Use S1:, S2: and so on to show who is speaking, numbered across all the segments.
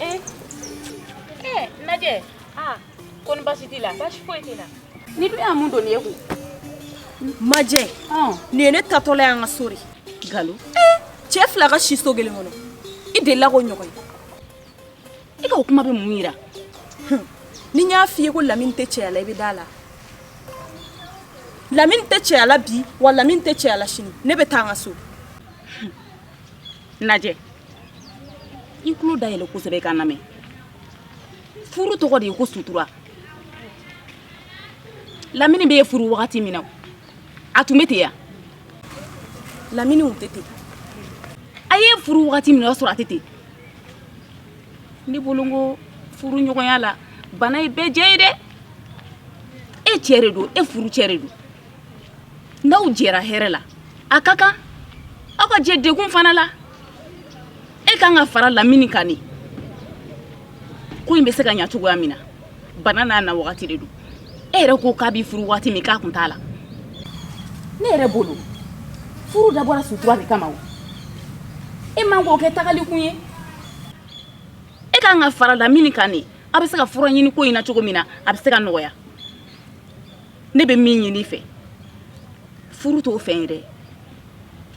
S1: Eh, eh, majɛ ah, koni basi t'i la basi foyi t'i la nin dun ye mun doni y'i kun
S2: majɛ nin ye ne taatɔla y'an ka so de nkalon
S1: cɛ fila
S2: ka si so kelen kɔnɔ i delila k'o ɲɔgɔn ye
S1: i ka o
S2: kuma bɛ
S1: mun yira
S2: ni n y'a f'i ye ko lamini tɛ cɛya la i bɛ da la lamini tɛ cɛya la bi wa lamini tɛ cɛya la sini ne bɛ taa n ka so
S1: majɛ i tulo dayɛlɛ kosɛbɛ i ka n lamɛn furu tɔgɔ de ye ko sutura lamini bɛ e furu wagati min na a tun bɛ ten
S2: yan lamini tun tɛ ten
S1: a y'e furu wagati min o y'a sɔrɔ a tɛ ten ne bolo n ko furu ɲɔgɔnya la bana ye bɛɛ jɛ ye dɛ e cɛ de don e furu cɛ de don n'aw jɛra hɛrɛ la a ka kan aw ka jɛ degun fana la e kan ka fara lamini kan de ko in bɛ se ka ɲa cogoya min na bana n'a na wagati de don e yɛrɛ ko k'a b'i furu wagati min k'a kun t'a la ne yɛrɛ bolo furu dabɔra sutura de kama o e man k'o kɛ tagali kun ye e kan ka fara lamini kan de a bɛ se ka fura ɲini ko in na cogo min na a bɛ se ka nɔgɔya ne bɛ min ɲini i fɛ furu t'o fɛn ye dɛ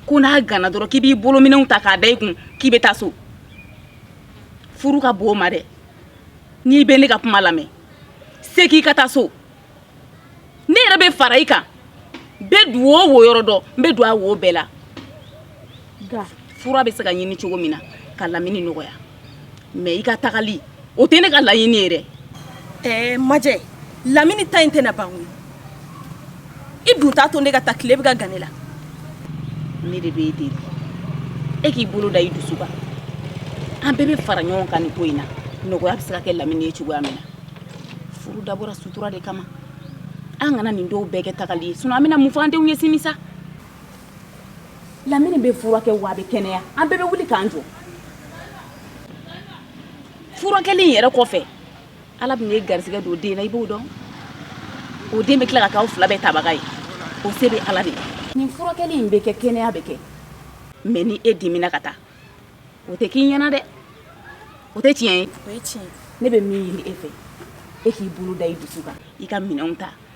S1: ko n'a ganna dɔrɔn k'i b'i bolominɛnw ta k'a da i kun k'i bɛ taa so furu ka bon o ma dɛ n'i bɛ ne ka kuma lamɛn segin ka taa so ne yɛrɛ bɛ fara i kan n bɛ du o wo yɔrɔ dɔn n bɛ don a wo bɛɛ la fura bɛ se ka ɲini cogo min na ka lamini nɔgɔya mɛ i ka tagali o tɛ ne ka laɲini ye dɛ ɛɛ
S2: majɛ lamini ta in tɛna ban koyi i dun t'a to ne ka taa tile bɛ ka gan ne la
S1: ne de b'e deli e k'i bolo da i dusu kan an bɛɛ bɛ fara ɲɔgɔn kan nin ko in na nɔgɔya bɛ se ka kɛ lamini ye cogoya min na furu dabɔra sutura de kama an kana nin dɔw bɛɛ kɛ tagali ye sinɔn an bɛna mun fɔ an denw ye sini sa lamini bɛ furakɛ wa a bɛ kɛnɛya an bɛɛ bɛ wuli k'an jɔ furakɛli in yɛrɛ kɔfɛ ala bɛ n'e garisɛgɛ don den na i b'o dɔn o den bɛ tila ka k'aw fila bɛɛ tabaga ye o se bɛ ala de ye nin furakɛli in bɛ kɛ kɛnɛya bɛ kɛ mɛ ni e dimina ka taa o tɛ k'i ɲɛna dɛ o tɛ tiɲɛ ye ne bɛ
S2: min ɲini e
S1: fɛ e k'i bolo da i dusu kan i ka minɛnw ta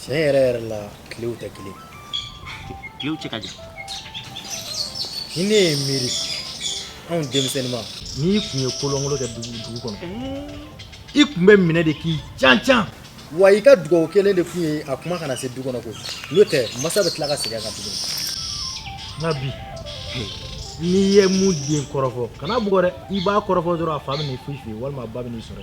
S3: Tiɲɛ yɛrɛ yɛrɛ la tile tɛ kelen
S4: tile cɛ
S3: ka jan ni ne ye miiri anw denmisɛnninma n'i kun ye kolonkolon kɛ dugu dugu kɔnɔ i kun bɛ minɛ de k'i can can wa i ka dugawu kelen de kun ye a kuma kana se du kɔnɔ ko n'o tɛ masa bɛ tila ka segin kan tuguni nka bi n'i ye mun den kɔrɔfɔ kana bugɔ dɛ i b'a kɔrɔfɔ dɔrɔn a fa bɛ n'i foyi f'i ye walima a ba bɛ n'i sɔrɔ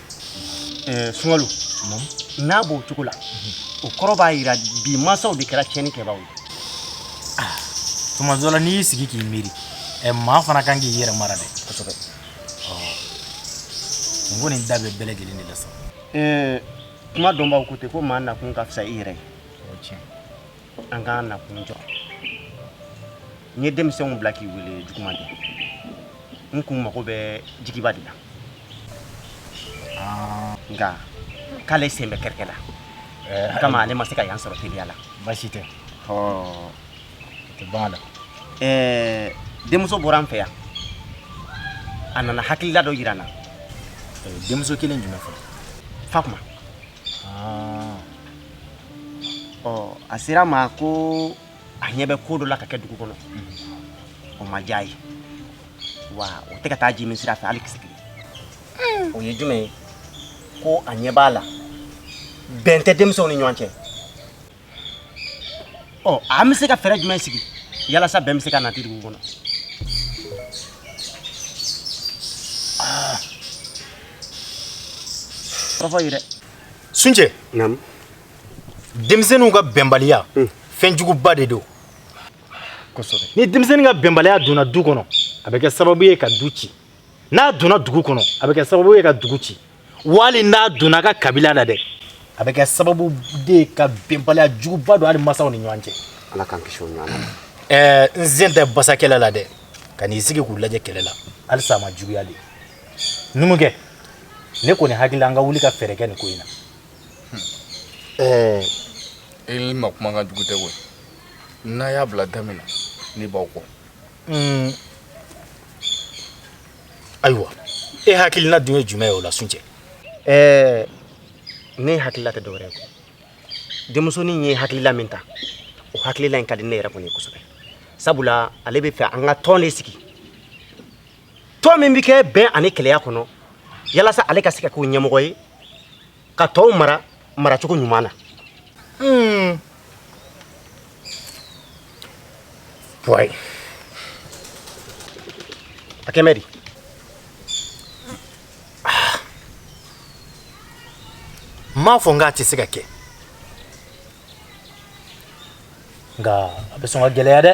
S4: eh, sunkalo n'a b'o cogo la o kɔrɔ b'a jira bi masaw de kɛra tiɲɛnikɛbaaw ye ah,
S3: tuma dɔ la n'i y'i sigi k'i miiri eh, maa fana kan k'i yɛrɛ mara dɛ kosɛbɛ n ko nin da bɛ bɛɛ lajɛlen de la sa
S4: kuma dɔnbaaw ko ten ko maa nakun ka fisa i yɛrɛ ye
S3: an
S4: k'an nakun jɔ n ye denmisɛnw bila k'i wele juguman tɛ n kun mago bɛ jigiba de la ah. nka k'ale sen bɛ kɛrɛkɛ la eh, o kama ale ma se ka yan sɔrɔ teliya la baasi tɛ o
S3: tɛ ban la
S4: eh, denmuso bɔra an fɛ yan a nana hakilila dɔ yira n na eh, denmuso
S3: kelen jumɛn fɔ fakuma
S4: a sera n ma ko a ɲɛ bɛ ko dɔ la ka kɛ dugu kɔnɔ o ma diya a ye wa o tɛ ka taa ji min sira fɛ hali kisɛ kelen o ye jumɛn ye ko a ɲɛ b'a la bɛn tɛ denmisɛnw ni ɲɔgɔn cɛ ɔ an bɛ se ka fɛɛrɛ jumɛn sigi yalasa bɛn bɛ se ka nati dugu kɔnɔ kɔrɔfɔ ye dɛ suncɛ
S3: denmisɛnninw ka bɛnbaliya hmm. fɛn juguba de don
S4: kosɛbɛ ni denmisɛnnin ka
S3: bɛnbaliya donna du kɔnɔ a bɛ kɛ sababu ye ka du ci n'a donna dugu kɔnɔ a bɛ kɛ sababu ye ka dugu ci wali n'a donna ka kabila la dɛ a bɛ kɛ sababu de ka bɛnbaliya juguba don hali masaw ni ɲɔgɔn cɛ ala k'an kisi o ɲɔgɔn
S4: ma ɛɛ n sen tɛ basa
S3: kɛlɛ la dɛ kan'i sigi k'u lajɛ kɛlɛ la halisa a ma juguya de numukɛ ne kɔni hakili la an ka wuli ka fɛɛrɛ kɛ nin ko in
S5: na ɛɛ i ma kuma ka jugu tɛ koyi n'aw y'a bila da min na ne b'aw kɔ
S3: ayiwa e hakilina dun ye jumɛn ye o la suncɛ
S4: ɛɛ ne hakilila tɛ dɔwɛrɛ ye ko denmusonin ye hakilila min ta o hakilila in ka di ne yɛrɛ kɔni ye kosɛbɛ sabula ale bɛ fɛ an ka tɔn de sigi tɔn min bɛ kɛ bɛn ani kɛlɛya kɔnɔ yalasa ale ka se ka k'o ɲɛmɔgɔ ye ka tɔw mara maracogo ɲuman na hmm.
S3: puwayi
S4: a kɛ mɛ di ah.
S3: n m'a fɔ n k'a tɛ se ka kɛ nka a bɛ sɔn ka gɛlɛya dɛ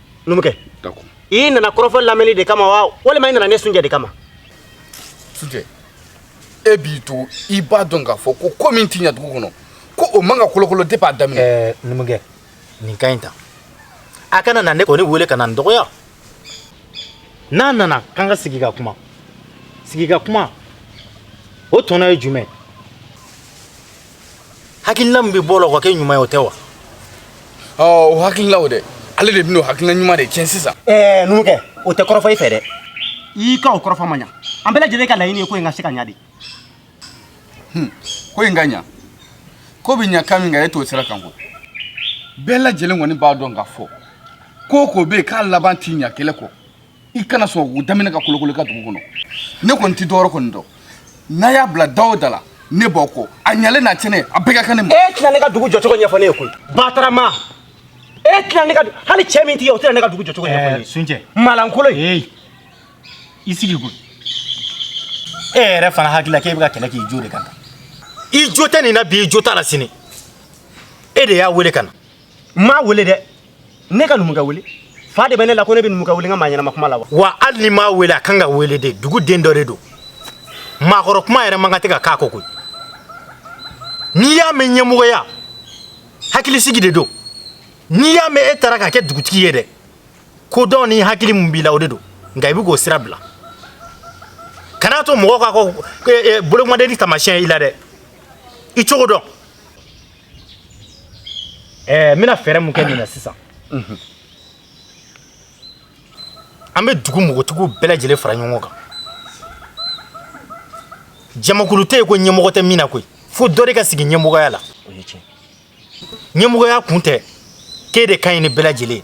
S4: numukɛ i nana
S5: kɔrɔfɔ
S4: lamɛnni de kama wa walima i nana ne sunjɛ de kama
S5: sunjɛ e b'i to i b'a dɔn k'a fɔ ko ko min ti ɲa dugu kɔnɔ ko o man ka kolokolo depuis a daminɛ eh, numukɛ
S3: nin ka ɲi tan a kana na ne kɔni wele ka na n dɔgɔya n'a nana k'an ka sigi ka kuma sigi ka kuma o tɔnɔ ye jumɛn hakilina min bɛ bɔ o la o ka kɛ ɲuman ye o tɛ wa
S5: ɔ o hakilina o dɛ ale de bɛna o hakilina ɲuman de tiɲɛ sisan ɛɛ numukɛ o
S4: tɛ kɔrɔfɔ i fɛ dɛ i ka o kɔrɔfɔ ma ɲa an bɛɛ lajɛlen ka laɲini ye ko in ka se ka ɲa
S5: de ko in ka ɲa ko bɛ ɲa kan min kan e t'o sira kan ko bɛɛ lajɛlen kɔni b'a dɔn k'a fɔ ko ko bɛ yen k'a laban ti ɲa kɛlɛ kɔ i kana sɔn ko daminɛ ka kolokolo i ka dugu kɔnɔ ne kɔni ti dɔwɛrɛ kɔni dɔn n'a y'a bila da o da la ne b'aw kɔ a ɲalen n'a tiɲɛnen a bɛɛ ka kan ne ma e tɛna ne ka dugu jɔcogo ɲɛfɔ
S4: ne ye koyi batarama e tɛna ne ka hali cɛ min t'i ye o tɛna ne ka dugu jɔcogo ɲɛfɔ ne ye suncɛ
S3: malankolon ee i sigi koyi e yɛrɛ fana hakili la k'e bɛ ka kɛlɛ k'i jo de kan i jo tɛ nin na bi i jo t'a la sini e de y'a wele ka na n m'a wele
S4: dɛ ne ka numukɛ wele fa de bɛ ne la ko ne bɛ numukɛ wele n ka maa ɲɛnama kuma la wa wa hali n'i m'a
S3: wele a kan ka wele de dugu den dɔ de don maakɔrɔ kuma yɛrɛ man kan tɛ ka k'a kɔ koyi n'i y'a mɛn ɲɛmɔgɔya hakilisigi de don n'i y'a mɛn e taara ka kɛ dugutigi ye dɛ kodɔn ni hakili mun b'i la o de don nka i bɛ k'o sira bila kana to mɔgɔ ka ko bolokɔnidenin taamasiyɛn i la dɛ i cogo dɔn ɛɛ n bɛna fɛɛrɛ mun kɛ nin na sisan an bɛ dugu bogotigiw bɛɛ lajɛlen fara ɲɔgɔn kan jamakulu tɛ yen ko ɲɛmɔgɔ tɛ min na koyi fo dɔ de ka sigi ɲɛmɔgɔya
S4: la
S3: ɲɛmɔgɔya kun tɛ k'e de ka ɲi ni bɛɛ lajɛlen ye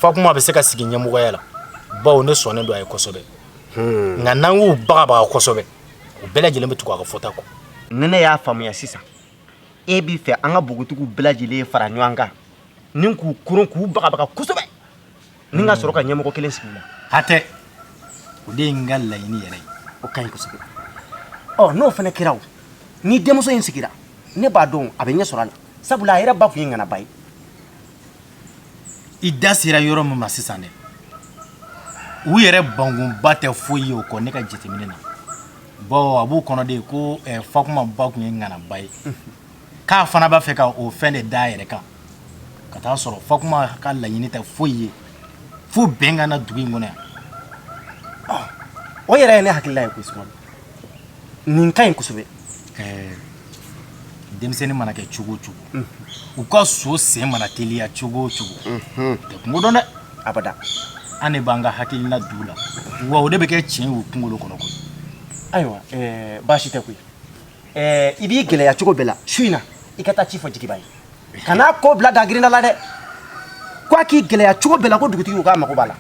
S3: fakuma bɛ se ka sigi ɲɛmɔgɔya la bawo ne sɔnnen don a ye kosɛbɛ nka n'an y'u bagabaga kosɛbɛ u bɛɛ lajɛlen bɛ tugu a ka fɔta kɔ ni ne y'a
S4: faamuya sisan e b'a fɛ an ka bogotigiw bɛɛ lajɛlen fara ɲɔgɔn kan ni k'u koron k'u bagabaga kosɛbɛ ni ka sɔrɔ ka ɲɛmɔgɔ kelen sigi u la
S3: hatɛ o de ye n ka laɲini yɛrɛ ye o ka ɲi
S4: kosɛbɛ ɔ n'o fana kɛra o ni denmuso in sigira ne b'a dɔn a bɛ ɲɛ sɔrɔ a la sabula a yɛrɛ ba tun ye ŋanaba ye
S3: i da sera yɔrɔ min ma sisan dɛ u yɛrɛ bankunba tɛ foyi ye o kɔ ne ka jateminɛ na bɔn a b'u kɔnɔ de ko eh, fakuma ba tun ye ŋanaba ye k'a fana b'a fɛ ka o fɛn de da a yɛrɛ kan ka taa sɔrɔ fakuma ka laɲini tɛ foyi ye fo bɛn ka na dugu in kɔnɔ yan
S4: ah, o yɛrɛ ye ne hakilila ye koyi sumaworo nin ka ɲi kosɛbɛ eh, denmisɛnnin
S3: mana kɛ cogo o cogo u ka so sen mana teliya cogo o cogo tɛ kungo dɔn dɛ
S4: abada an de
S3: b'an ka hakilina d'u la wa o de bɛ kɛ tiɲɛ y'u kunkolo kɔnɔ koyi ayiwa
S4: eh, baasi tɛ koyi Eh, i b'i gɛlɛya cogo bɛɛ la su in na i ka taa ci fɔ jigiba ye kana ko bila dagirinda la dɛ ko a k'i gɛlɛya cogo bɛɛ la ko dugutigi ko k'a mago b'a la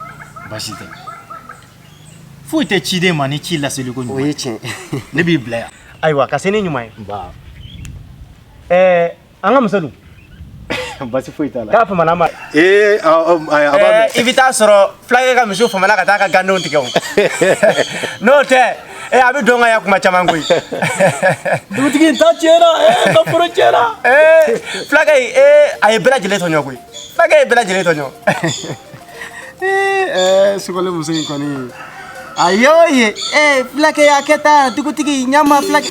S4: baasi
S3: tɛ foyi tɛ ciden ma ni ci laseli koɲuman o ye tiɲɛ
S4: ne b'i bila yan
S3: ayiwa ka se ni ɲuman ye
S4: nba ɛɛ an ka muso dun basi
S3: foyi t'a la k'a famana ma ee
S4: a a- a- a b'a mɛn. i bɛ taa sɔrɔ fulakɛ ka misiw famana ka taa ka gandenw tigɛ o n'o tɛ ee a bɛ don ka ya kuma caman koyi
S3: dugutigi in ta tiɲɛna ee ka foro tiɲɛna ee fulakɛ
S4: in ee a ye bɛɛ lajɛlen tɔɲɔ koyi fulakɛ ye bɛɛ lajɛlen tɔɲɔ
S3: ɛɛ sogole muso in kɔni a y'o ye ee fulakɛ y'a kɛ tan dugutigi ɲama fulakɛ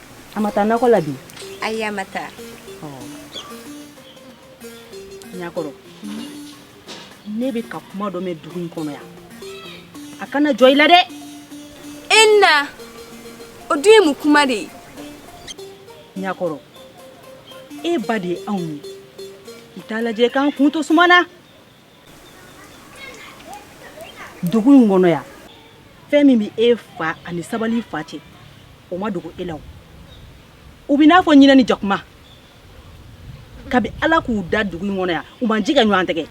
S6: a ma taa nakɔ la
S2: bi ayi a ma taa ɲakɔrɔ ne bɛ ka kuma dɔ mɛn dugu in kɔnɔ yan a kana jɔ i la dɛ e na
S6: o dun ye mun kuma de ye
S2: ɲakɔrɔ e ba de ye anw ye i t'a lajɛ k'an kun to suma na dugu in kɔnɔ yan fɛn min bɛ e fa ani sabali fa cɛ o ma dogo e la o u b'i n'a fɔ ɲinɛ ni jakuma kabi ala k'u da dugu in kɔnɔ yan u ma ji kɛ ɲɔgɔn tɛgɛ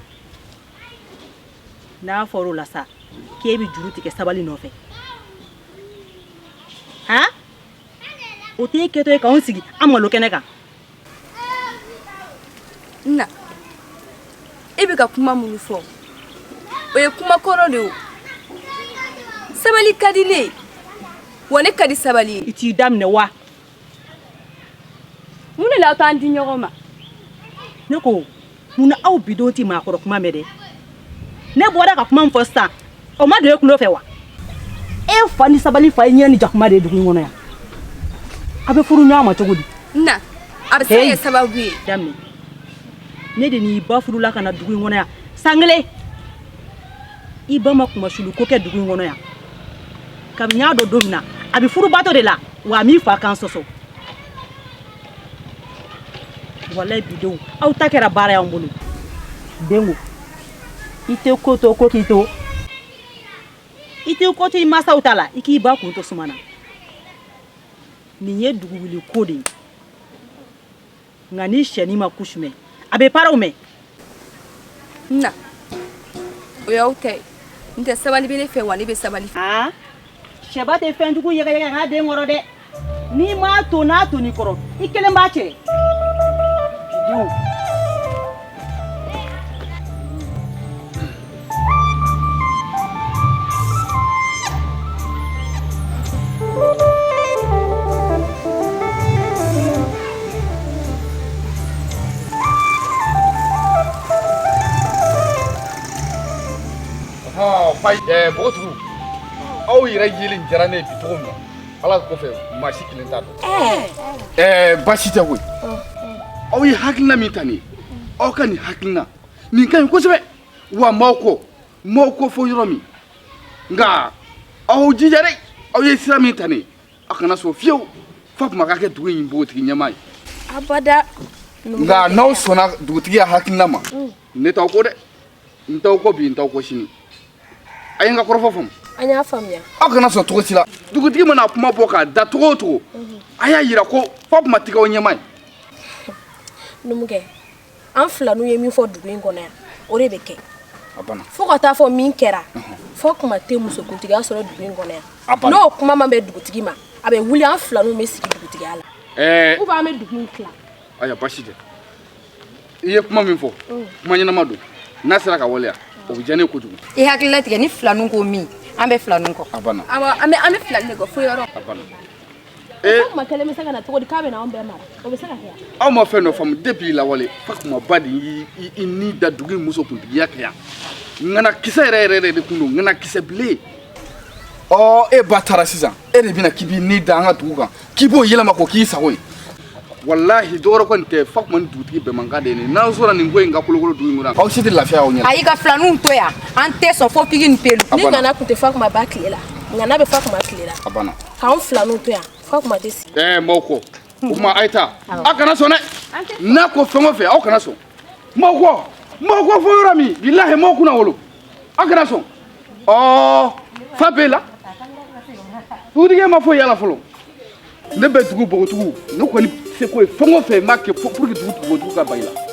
S2: n'a fɔra o la sa k'e bɛ juru tigɛ sabali nɔfɛ han o t'e kɛtɔ ye k'anw sigi an malo kɛnɛ kan
S6: na e bɛ ka kuma minnu fɔ o ye kuma kɔrɔ de ye sabali ka di ne wa ne ka di sabali i t'i da minɛ wa mun de la a t'an di ɲɔgɔn ma ne
S2: ko munna aw bidenw tɛ maakɔrɔ kuma mɛn dɛ ne bɔra ka kuma min fɔ sisan o ma don e tulo fɛ wa e fa ni sabali fa ye ɲinɛ ni jakuma de ye dugu in kɔnɔ yan a bɛ furu ɲɔgɔn ma cogo di na a
S6: bɛ se ka kɛ sababu ye i da
S2: minɛ ne de n'i ba furula ka na dugu in kɔnɔ yan san kelen i ba ma kunmasuuliko kɛ dugu in kɔnɔ yan kabini n y'a dɔn don min na a bɛ furubato de la wa a m'i fa kan sɔsɔ Walayi bi denw aw ta kɛra baara y'an bolo dɛ n ko i tɛ ko to ko k'i to i tɛ ko to i masaw ta la i k'i ba kun to suma na nin ye dugu wuli ko de ye nka ni shɛnin ma kusu mɛn a bɛ paraw mɛn
S6: na o y'aw ko ye n tɛ sabali bɛ ne fɛ wa ne bɛ sabali aa
S2: shɛba tɛ fɛn jugu yɛgɛyɛgɛ a den kɔrɔ dɛ n'i m'a to n'a tonn'i kɔrɔ i kelen b'a cɛ dɛ
S5: Npogotigiw aw yɛrɛ yeli diyara ne ye bi cogo min na ala kɔfɛ maa si kelen t'a dɔn eh. eh, baasi tɛ koyi aw ye hakilina min ta nin ye aw ka nin hakilina nin ka ɲi kosɛbɛ wa n b'aw kɔ n b'aw kɔ fo yɔrɔ min nka aw jija dɛ aw ye sira min ta nin a kana sɔn fiyewu Fatuma ka kɛ dugu in npogotigi ɲɛmaa ye abada
S6: nka
S5: n'aw sɔnna dugutigi ya hakilina ma ne t'aw kɔ dɛ n t'aw kɔ bi n t'aw kɔ sini a ye n ka kɔrɔfɔ faamu an y'a
S6: faamuya aw kana sɔn cogo si la
S5: dugutigi mana kuma bɔ k'a da cogo o cogo a y'a yira ko Fatuma tɛ kɛ aw ɲɛmaa ye numukɛ
S7: an filaninw ye min fɔ dugu in kɔnɔ yan o de bɛ kɛ fo
S5: ka taa fɔ min
S7: kɛra Fatuma tɛ musokuntigiya sɔrɔ dugu in kɔnɔ yan n'o kuma
S5: ma bɛn dugutigi
S7: ma a bɛ wuli an filaninw bɛ sigi dugutigiya la eh. ou bien an bɛ dugu in tila ayiwa baasi
S5: tɛ i ye kuma min fɔ mm. kuma ɲɛnama don n'a sera ka waleya o bɛ diya ne ye kojugu i hakili latigɛ ni
S6: filaninw ko min an bɛ filaninw kɔ
S5: a
S6: banna awɔ an bɛ an bɛ filanin de kɔ fo yɔrɔ a
S5: banna
S6: Eh.
S7: Maa kelen bɛ se ka na cogo di k'a bɛ na anw bɛɛ mara o bɛ se ka kɛ aw ma fɛn dɔ
S5: faamu depuis lawale Fatuma ba de y'i ni da dugu in musokuntigiya kɛ yan ŋana kisɛ yɛrɛ yɛrɛ yɛrɛ de tun don ŋana kisɛ bilen ɔ e ba taara sisan e de bɛna k'i b'i ni da an ka dugu kan k'i b'o yɛlɛma k'o k'i sago ye walahi dɔwɛrɛ kɔni tɛ Fatuma ni dugutigi bɛnmakan de ye nin n'aw sɔnna nin ko in ka kolokolo dugu in kɔnɔ aw si tɛ lafiya aw ɲɛ na ayi ka filaninw to
S6: yan an tɛ sɔn fo pigi ni pelu ni ŋana tun tɛ Fatuma
S7: ba tile la ŋana bɛ Fatuma tile la a banna k'anw filaninw
S5: to yan
S7: Fatuma tɛ sigi ɛɛ n b'aw
S5: kɔ o tuma a ye taa aw kana sɔn dɛ n'a ko fɛn o fɛn aw kana sɔn n b'aw kɔ n b'aw kɔ fo yɔrɔ min bilahi n b'aw kunnawolo aw kana sɔn ɔɔ fa b'e la dugutigi ma foyi y'a la fɔlɔ ne bɛ dugu bogotigiw ne kɔni seko ye fɛn o fɛn n b'a kɛ pour que dugu bogotigiw ka ban i la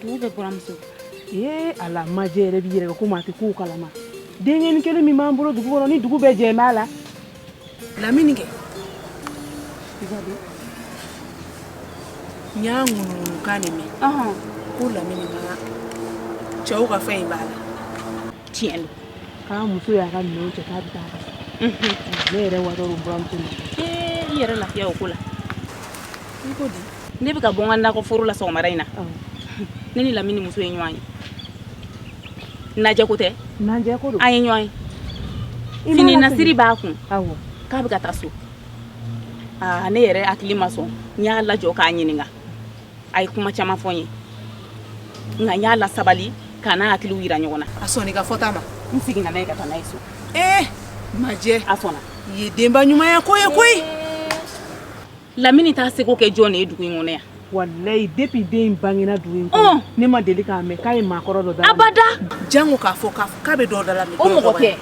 S1: dugu bɛɛ buramuso ee
S2: ala majɛ yɛrɛ b'i yɛrɛ kɛ komi a tɛ kow kalama denkɛni kelen min b'an bolo dugu kɔnɔ ni dugu bɛɛ jɛn b'a la lamini
S7: kɛ n y'a ŋunuŋunu kan de mɛn ko lamini ma cɛw ka fɛn in b'a la
S1: tiɲɛ don k'a muso
S2: y'a ka minɛnw cɛ k'a bɛ taa ka ne yɛrɛ watɔ don buramuso ma i yɛrɛ lafiya
S1: o ko la
S7: i ko di ne bɛ ka bɔ n ka nakɔ
S1: foro la sɔgɔmada in na ne ni lamini muso ye ɲɔgɔn ye najɛ ko tɛ an ye ɲɔgɔn
S2: ye
S1: fini nasiri b'a kun k'a bɛ ka taa so aa ne yɛrɛ hakili ma sɔn n y'a lajɔ k'a ɲininka a ye kuma caman fɔ n ye nka n y'a lasabali k'an hakiliw yira ɲɔgɔn na a sɔnna n ka fɔta ma
S7: n seginna n'a ye ka taa n'a
S1: ye so ee majɛ
S7: a sɔnna i
S1: ye denba ɲumanya
S7: ko ye koyi
S1: Lamini t'a seko kɛ jɔn de ye dugu in kɔnɔ yan walayi depuis
S2: den in bangena dugu in kɔnɔ ne ma deli k'a mɛn k'a ye maakɔrɔ dɔ da abada janko k'a
S1: fɔ
S7: k'a bɛ dɔ da la o mɔgɔ tɛ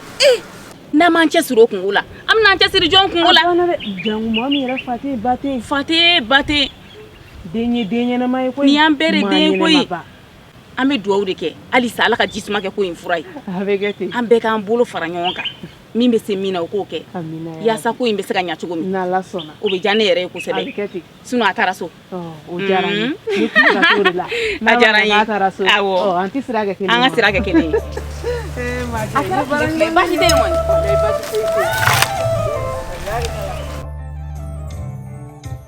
S1: n'an m'an cɛ siri o kunko la an bɛn'an cɛ siri jɔn kunko la janko mɔgɔ min
S2: yɛrɛ fa tɛ ba tɛ
S1: den
S2: ye den ɲɛnama ye koyi nin y'an bɛɛ de den ye
S1: koyi an bɛ dugawu de kɛ halisa ala ka ji suma kɛ ko in fura ye an
S2: bɛɛ k'an bolo fara ɲɔgɔn
S1: kan min bɛ se min na o k'o kɛ yaasa ko in bɛ se ka ɲɛ cogo min o bɛ diya
S2: ne yɛrɛ ye
S1: kosɛbɛ sinɔn
S2: a taara so o diyara n ye
S1: an
S2: ka sira kɛ kelen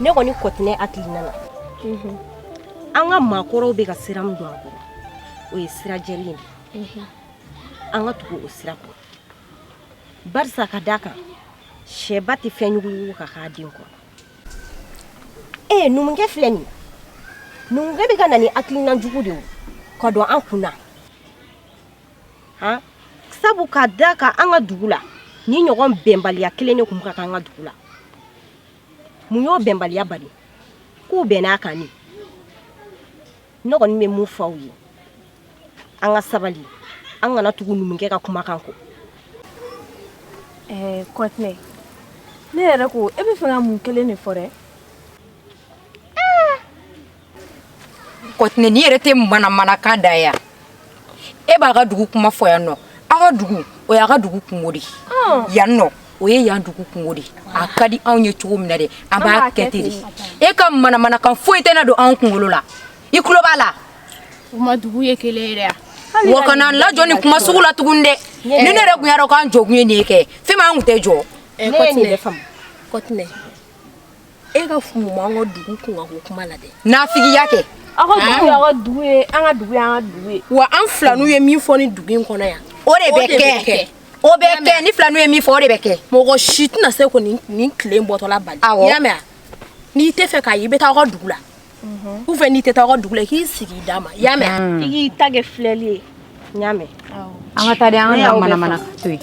S8: ne kɔni kɔtinɛ hakilina na mhm. an ka maakɔrɔw bɛ ka sira min don an kɔrɔ o ye sira jɛlen de mhm. an ka tugu o sira kɔ barisa ka d'a kan sɛba tɛ fɛn jugu yugu ka k'a den kɔrɔ ee numukɛ filɛ nin numukɛ bɛ ka na ni hakilina jugu de ye ka don an kun na sabu ka d'a kan an ka dugu la nin ɲɔgɔn bɛnbaliya kelen de tun ka kan an ka dugu la mun y'o bɛnbaliya bali k'u bɛnn'a kan ne kɔni bɛ mun fɔ aw ye an ka sabali an kana tugu numukɛ ka kumakan kɔ
S7: ɛɛ kɔtinɛ ne yɛrɛ ko e bɛ fɛ ka mun kelen de fɔ dɛ
S6: kɔtinɛ n'i yɛrɛ tɛ manamanakan da yan e b'aw ka dugu kuma fɔ yan nɔ aw ka dugu o y'aw ka dugu kunko de yan nɔ o ye yan dugu kunko de a ka di anw ye cogo min na dɛ an b'a kɛ ten de e ka manamanakan foyi tɛna don anw kunkolo la i tulo b'a la u ma
S7: dugu ye kelen ye dɛ wa kana
S6: n lajɔ nin kuma sugu la tuguni dɛ ni ne yɛrɛ tun y'a dɔn k'an jɔ kun ye nin ye kɛ fɛn min an tun tɛ jɔ
S7: kɔtinɛ e ka mun b'an ka dugu kunkanko
S6: kuma
S7: la dɛ nafigiya kɛ aw
S8: ka dugu y'aw ka dugu ye an ka dugu y'an ka dugu ye wa an filaninw ye min fɔ nin dugu in kɔnɔ yan o de bɛ
S6: kɛ o bɛ kɛ ni filaninw ye min fɔ o de bɛ kɛ mɔgɔ si tɛna
S8: se ko nin tile bɔtɔla bali i y'a mɛn n'i tɛ fɛ k'a ye i bɛ taa aw ka dugu la u fɛ n'i tɛ taa aw ka dugu la k'i sigi d'a ma y'a mɛn hmm. i k'i ta kɛ filɛli ye y'a mɛn an ka taa de
S6: an ka manamana to yen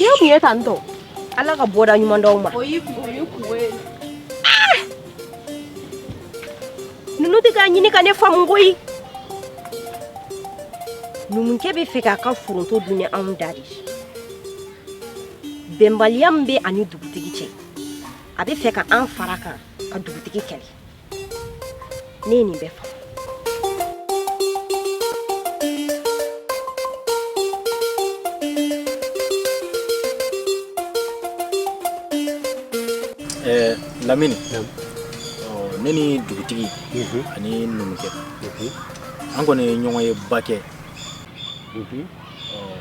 S6: n'i tun ye tan
S8: tɔ ala ka bɔda ɲuman d'aw ma ah! ninnu tɛ k'a ɲini ka ne faamu koyi numukɛ bɛ fɛ k'a ka foronto dun ni anw da de bɛnbaliya min bɛ a ni dugutigi cɛ a bɛ fɛ ka an fara kan ka dugutigi kɛlɛ Ne ye nin bɛɛ
S3: faamu. Eh, Lamini. Naam. Oh, ne ni dugutigi mhm. ani numukɛ mhm. an kɔni ye ɲɔgɔnye ba kɛ mhm. oh,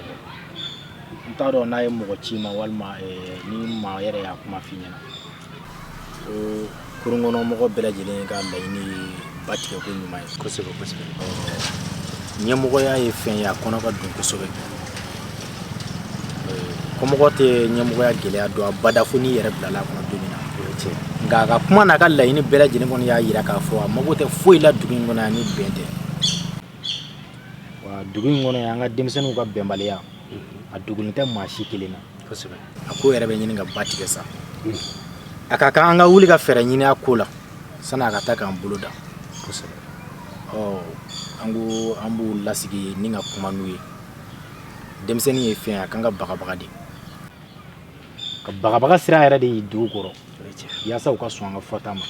S3: n t'a dɔn n'a ye mɔgɔ ci ma walima eh, ni maa yɛrɛ y'a kuma f'i ɲɛna Kɔnɔmɔgɔ bɛɛ lajɛlen ka laɲini ye ba tigɛ ko ɲuman ye ɲɛmɔgɔya ye fɛn ye a kɔnɔ ka dun kosɛbɛ kɔmɔgɔ tɛ ɲɛmɔgɔya gɛlɛya dɔn abada fo n'i yɛrɛ bilala a kɔnɔ don min na cɛ nka a ka kuma n'a ka laɲini bɛɛ lajɛlen kɔni y'a jira k'a fɔ a mago tɛ foyi la dugu in kɔnɔ yan ni bɛn tɛ wa dugu in kɔnɔ yan an ka denmisɛnninw ka bɛnbaliya a dogolen tɛ maa si kelen na kosɛbɛ a ko yɛrɛ bɛ ɲini ka ba tigɛ sa hmm. a ka kan an ka wuli ka fɛɛrɛ ɲini a ko la sani a ka taa k'an bolo dan kosɛbɛ ɔ an ko an b'u lasigi ni ka kuma n'u ye denmisɛnnin ye fɛn a kan ka bagabaga de ka bagabaga sira yɛrɛ de y'i dugu kɔrɔ yaasa u ka sɔn an ka fɔta ma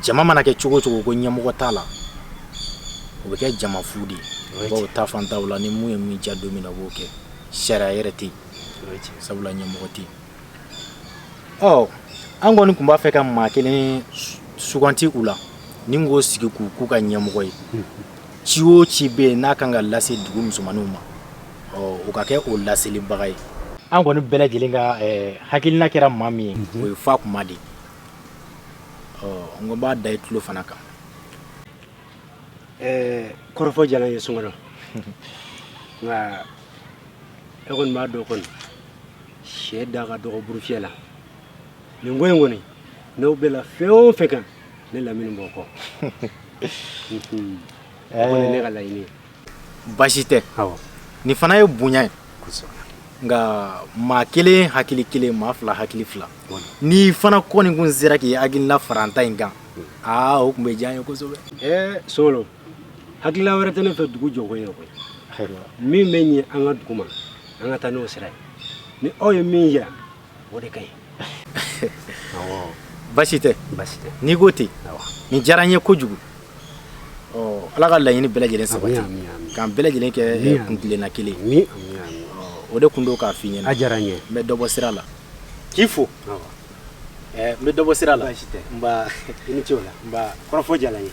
S3: jama mana kɛ cogo cogo ko ɲɛmɔgɔ t'a la o bɛ kɛ jama fu de ye bawo taafan t'a la ni mun ye min diya don min na o b'o kɛ sariya yɛrɛ tɛ yen sabula ɲɛmɔgɔ tɛ yen ɔ an kɔni tun b'a fɛ ka maa kelen suganti u la ni k'o sigi k'o k'u ka ɲɛmɔgɔ ye ci o ci bɛ yen n'a kan ka lase dugu musomanninw ma o ka kɛ o laselibaga ye an kɔni bɛɛ lajɛlen ka hakilina kɛra maa min ye o ye fatuma de n ko n b'a da i tulo fana kan
S9: kɔrɔfɔ diyara n ye sungalo nka e kɔni b'a dɔn kɔni syɛ da ka dɔgɔ burufyɛ la nin ko in kɔni n'aw bɛnna fɛn o fɛn kan ne lamini b'o kɔ ne ka laɲini basi
S3: tɛ nin fana ye bonya ye nka maa kelen hakili kelen maa fila hakili fila n'i fana kɔni kun sera k'i hakilila fara an ta in kan aa o tun bɛ diya n ye kosɛbɛ ɛɛ
S9: solo hakilila wɛrɛ tɛ ne fɛ dugu jɔko ye koyi min bɛ ɲɛ an ka dugu ma an ka taa n'o sira ye ni aw ye min jira o de ka
S3: ɲi basi tɛ basi tɛ n'i ko ten nin diyara n ye kojugu ala ka laɲini bɛɛ lajɛlen sabati k'an bɛɛ lajɛlen kɛ kuntilenna kelen o de kun don k'a f'i ɲɛna a diyara n ye n bɛ dɔ
S9: bɔ sira
S3: la k'i fo n bɛ dɔ bɔ sira la basi tɛ
S9: i ni ce o la kɔrɔfɔ diyara n ye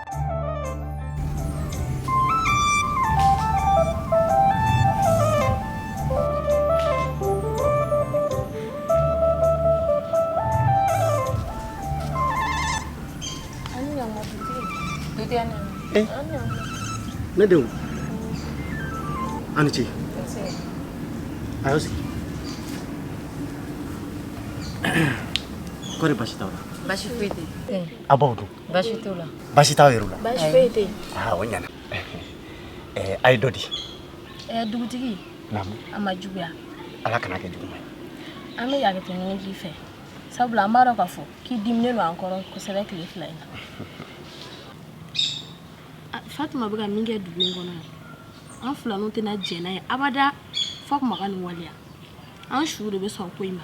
S9: Ne denw a ni ce a y'aw sigi kɔri basi t'aw la basi foyi tɛ
S6: a b'aw dun
S9: Basi t'u la. Basi
S6: t'aw yɛrɛ
S9: la. Basi foyi tɛ
S8: yen. Aa o
S9: ɲana. Ɛɛ a ye dɔ di. Ɛɛ
S8: dugutigi. Naamu. A ma juguya. Ala kana kɛ
S9: juguman ye. An bɛ hakɛto ɲini k'i
S8: fɛ sabula an b'a dɔn k'a fɔ k'i diminnen don an kɔrɔ kosɛbɛ tile fila in na. Fatuma bɛ ka min kɛ dugu in kɔnɔ yan an filanw tɛna jɛn n'a ye abada Fatuma ka nin waleya an su de bɛ sɔn ko in ma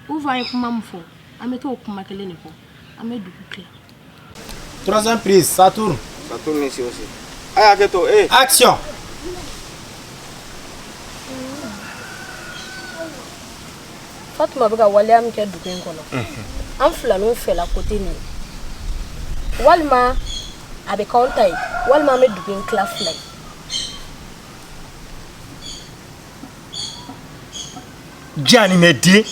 S8: ou bien an ye kuma min fɔ an bɛ t'o kuma kelen de fɔ. An bɛ dugu
S3: tila. Troisième
S4: prise, ça
S3: tourne. Ça tourne ici
S4: aussi. A
S3: y'a kɛ to ee.
S8: Action! Fatuma bɛ ka waleya min kɛ dugu in kɔnɔ. Unhun. An filanw fɛla côté nin ye. Walima a bɛ k'anw ta ye walima an bɛ dugu in tila fila ye.
S4: janamɛden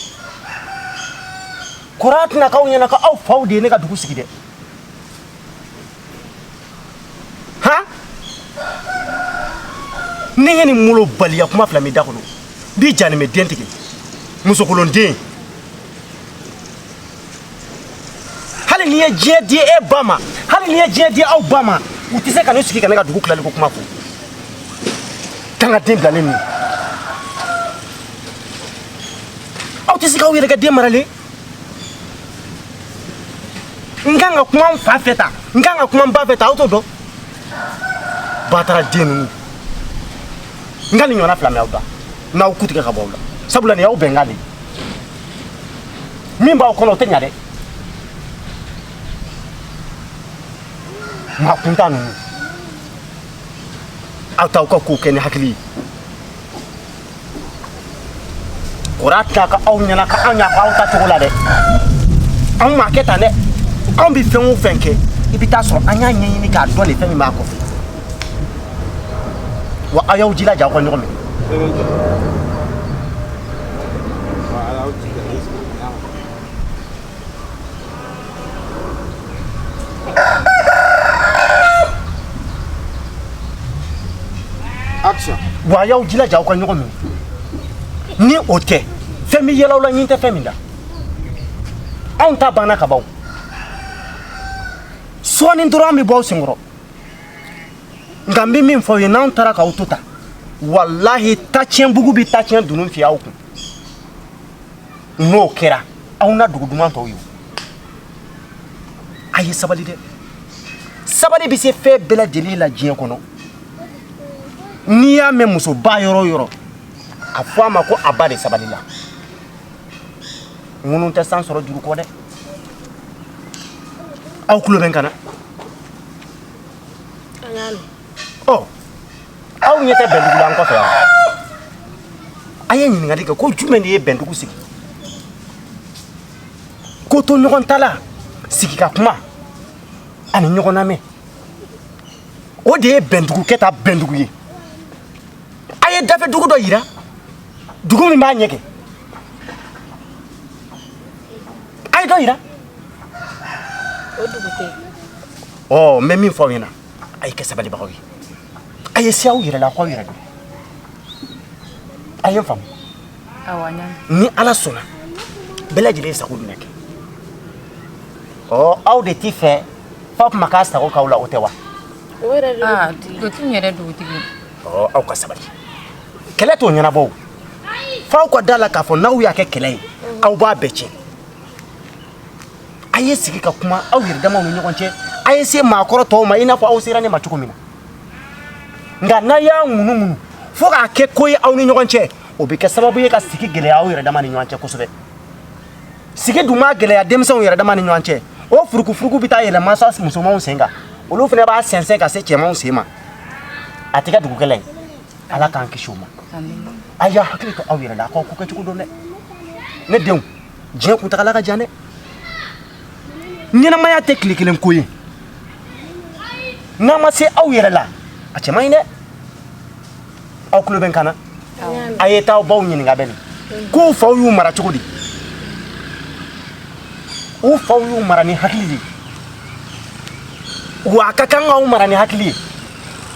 S4: kɔr'a tɛna k'aw ɲɛna ko aw faw de ye ne ka dugu sigi dɛ han ne ye nin molobaliya kuma fila mɛn da kɔnɔ bi janamɛden tigɛ musokolonden hali n'i ye diɲɛ di e ba ma hali n'i ye diɲɛ di aw ba ma u tɛ se ka ne sigi ka ne ka dugu tilali ko kuma fɔ kan ka den bilalen ninnu aw tɛ se k'aw yɛrɛ kɛ den maralen n kan ka kuma n fa fɛ ta n kan ka kuma n ba fɛ ta aw t'o dɔn bataraden ninnu n ka nin ɲɔgɔnna fila mɛn aw da n'aw kun tigɛ ka bɔ aw la sabula nin y'aw bɛnkan de ye min b'aw kɔnɔ o tɛ ɲa dɛ maa kuntan ninnu aw t'aw ka ko kɛ ni hakili ye kana t'a kɛ aw ɲɛna ko anw y'a fɔ aw ta cogo la dɛ anw m'a kɛ tan dɛ anw bɛ fɛn o fɛn kɛ i bɛ t'a sɔrɔ an y'a ɲɛɲini k'a dɔn de fɛn min b'a kɔfɛ wa aw y'aw jilaja aw ka ɲɔgɔn minɛ
S5: Action. wa a y'aw jilaja aw ka
S4: ɲɔgɔn minɛ ni o tɛ fɛn bɛ yɛlɛ aw la ɲin tɛ fɛn min da anw ta banna ka ban o. sɔɔni dɔrɔn an bɛ bɔ aw senkɔrɔ nka n bɛ min fɔ aw ye n'anw taara k'aw to tan walahi tacɛnbugu bɛ tacɛn dunun fiyɛ aw kun n'o kɛra aw na dugu duman tɔw ye a ye sabali dɛ sabali bɛ se fɛn bɛɛ lajɛlen la diɲɛ kɔnɔ n'i y'a mɛn musoba yɔrɔ o yɔrɔ a fɔ a ma ko a ba de sabalila ŋunu tɛ san sɔrɔ juru kɔ dɛ aw tulo bɛ n kan na An y'a mɛn. Ɔ aw ɲɛ tɛ Bɛndugu la an kɔfɛ wa? A ye ɲininkali kɛ ko jumɛn de ye Bɛndugu sigi? Kotoɲɔgɔntala, sigi ka kuma ani ɲɔgɔn lamɛn. O de ye Bɛndugu kɛ ta Bɛndugu ye. A ye dafɛ dugu dɔ yira, dugu min b'a ɲɛ kɛ. A ye dɔ yira.
S8: o dugu tɛ
S4: ɔ n bɛ min fɔ aw ɲɛna a ye kɛ sabalibagaw ye a ye se aw yɛrɛ la k'aw yɛrɛ dɔn a ye n faamu ni ala sɔnna bɛɛ lajɛlen ye sago bɛna kɛ ɔ aw de t'i fɛ fa tuma k'a sago k'aw la o tɛ wa o
S8: yɛrɛ de ah, dugutigi n
S6: yɛrɛ dugutigi ɔ aw ka sabali
S4: kɛlɛ t'o ɲɛnabɔ o f'aw ka da la k'a fɔ n'aw y'a kɛ kɛlɛ ye aw b'a bɛɛ tiɲɛ a ye sigi ka kuma aw yɛrɛ damaw ni ɲɔgɔn cɛ a ye se maakɔrɔ tɔw ma i n'a fɔ aw sera ne ma cogo min na nka n'a y'a ŋunuŋunu fo k'a kɛ ko ye aw ni ɲɔgɔn cɛ o bɛ kɛ sababu ye ka sigi gɛlɛya aw yɛrɛ dama ni ɲɔgɔn cɛ kosɛbɛ sigi dun mana gɛlɛya denmisɛnw yɛrɛ dama ni ɲɔgɔn cɛ o furukufuruku bɛ taa yɛlɛ mansa musomanw sen kan olu fana b'a sɛnsɛn ka se cɛmanw sen ma a tɛ kɛ dugukɛlɛ ye ala k'an kisi o ma a y'a hakili to aw yɛrɛ la a k'aw ko kɛcogo dɔn dɛ ne denw diɲɛ kuntagala ka jan dɛ ɲɛnamaya tɛ tile kelen ko ye n'a ma se aw yɛrɛ la a cɛ man ɲi dɛ aw tulo bɛ n kan na a ye taa aw baw ɲininka bani k'u faw y'u mara cogo di u faw y'u mara ni hakili de ye wa a ka kan k'aw mara ni hakili ye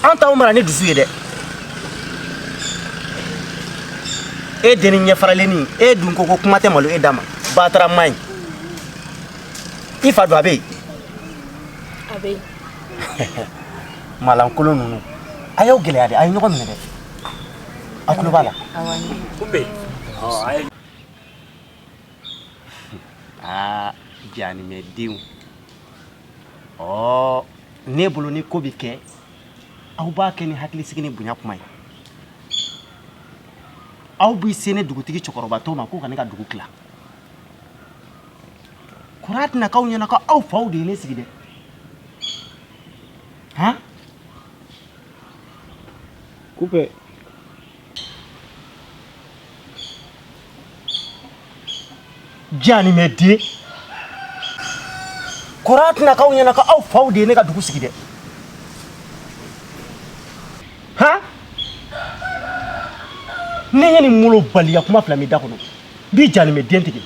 S4: an t'aw mara ni dusu ye dɛ e deni ɲɛfaralenni e dun ko ko kuma tɛ malo e da ma batara man ɲi i fa dun a bɛ yen
S8: a bɛ
S4: yen malankolon ninnu a y'aw gɛlɛya de a ye ɲɔgɔn minɛ dɛ a tulo b'a la aa janimɛdenw ɔ ne bolo ni ko bɛ kɛ aw b'a kɛ ni hakilisigi ni bonya kuma ye aw b'i se ne dugutigi cɛkɔrɔbatɔ ma k'o ka ne ka dugu tila kɔri a tɛna k'aw ɲɛna ko aw faw de ye ne sigi dɛ han kupe Janimɛden kɔri a tɛna k'aw ɲɛna ka aw faw de ye ne ka dugu sigi dɛ han ne ye nin malobaliya kuma fila mɛn i da kɔnɔ bi janimɛden tigɛ